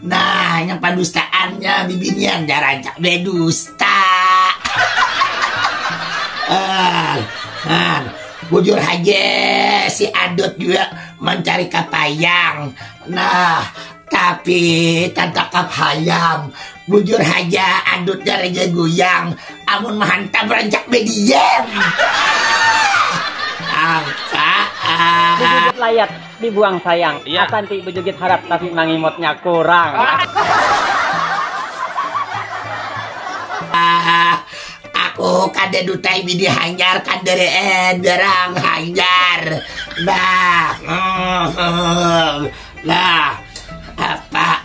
Nah, yang padustaannya bibinian dah rancak bedusta. ah, ah, bujur aja si Adot juga mencari kapayang. Nah, tapi tanpa kapayang. Bujur aja Adot dari guyang. Amun menghantam rancak bediam. Apa? Ah. Layat. Dibuang sayang. Iya. Asan ti bejugit harat tapi mangimotnya kurang. Aku kada dutai bini hanyar kandaraan barang hanyar. Bah. Nah, apa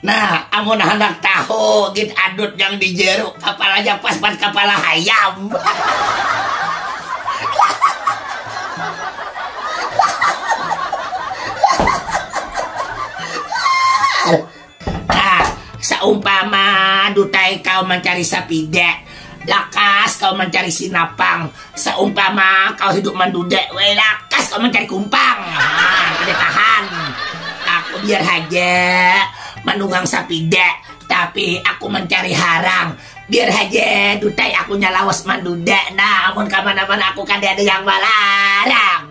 Nah, amun handak tahu gin adut nang di jeru kapalanya pas wan kapala hayam. Seumpama dutai kaum mancari sapida, lakas kaum mancari sinapang. Seumpama kau hidup mandudek weh lakas kau mancari kumpang haa kada tahan aku biar haja manunggang sapida tapi aku mancari harang biar haja dutai aku nya lawas mandudek nah amun kamana mana aku kada ada yang malarang.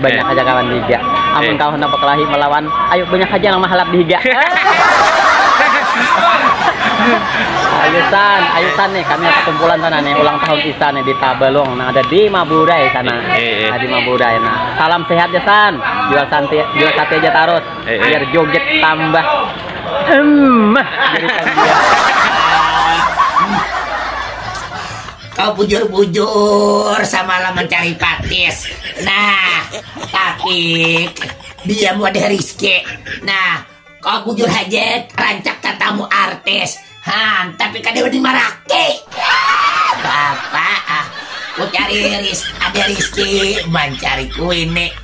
banyak aja kawan dihiga amun kawan nang bakelahi melawan ayu banyak aja nang mahalap dihiga ayu san ayu san nih kami ada kumpulan sana nih ulang tahun isan nih di Tabalong nang ada di Maburai sana nah, di Maburai nah salam sehat ya san jual santi jual sate aja tarus biar joget tambah hmm Kau bujur-bujur samalam mencari patis. Nah, tapi dia ada rizki. Nah, kau bujur aja rancak tatamu artis. Han, tapi kada di marake. Bapak, ah, ku cari ris ada rizki mencari kuini.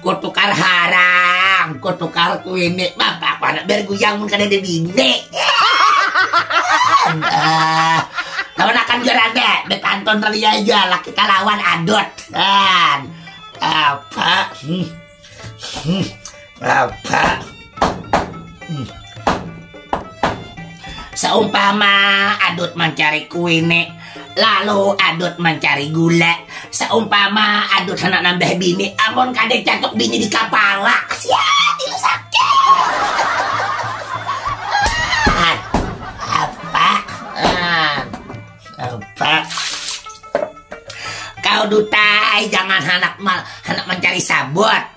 kutukar haram kutukar kuini bapak aku anak berguyang mun kada ada bini lawan akan gerada betanton ria aja laki kalawan adot dan apa hmm. hmm. apa Seumpama adut mencari kuine, lalu adut mencari gula. Seumpama adut hendak nambah bini, amun kada catuk bini di kapala, sia tilu sakit. Apa? Apa? Kau dutai jangan hendak hendak mencari sabut.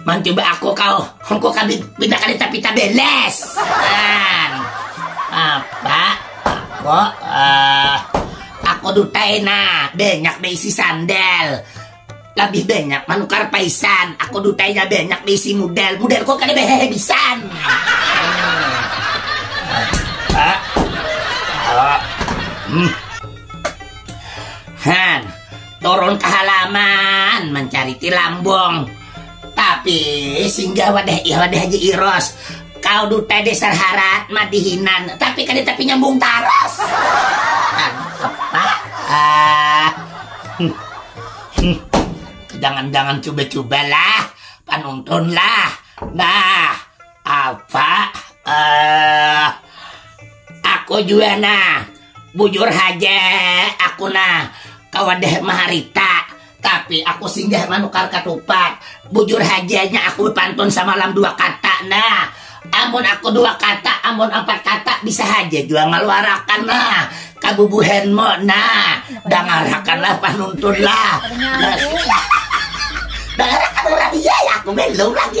Mantu ba aku kau, hongko kami bina kali tapi tak beles. Kan. Apa? Aku, uh, eh, aku dutai na, banyak beisi sandal. Lebih banyak manukar paisan, aku dutainya banyak beisi model. Model kok kada behehe bisan. Apa? Hmm. Han, Turun ke halaman mencari tilambong. Tapi singgah wadah ih wadah haji iros. Kau duta dasar harat madihinan. Tapi kada tapi nyambung taras. Tangkep pak. Ah. Jangan-jangan coba-cobalah. Panuntun lah. Nah. Apa? Uh, aku juga nah, bujur haja aku nah, kawadah maharita, tapi aku singgah manukar katupat. Bujur hajanya aku pantun samalam dua kata nah. Amun aku dua kata, amun empat kata bisa haja juga ngaluarakan nah. Kabubuhan mo nah, dangarakanlah panuntun lah. Dangarakan orang iya ya, aku belum lagi.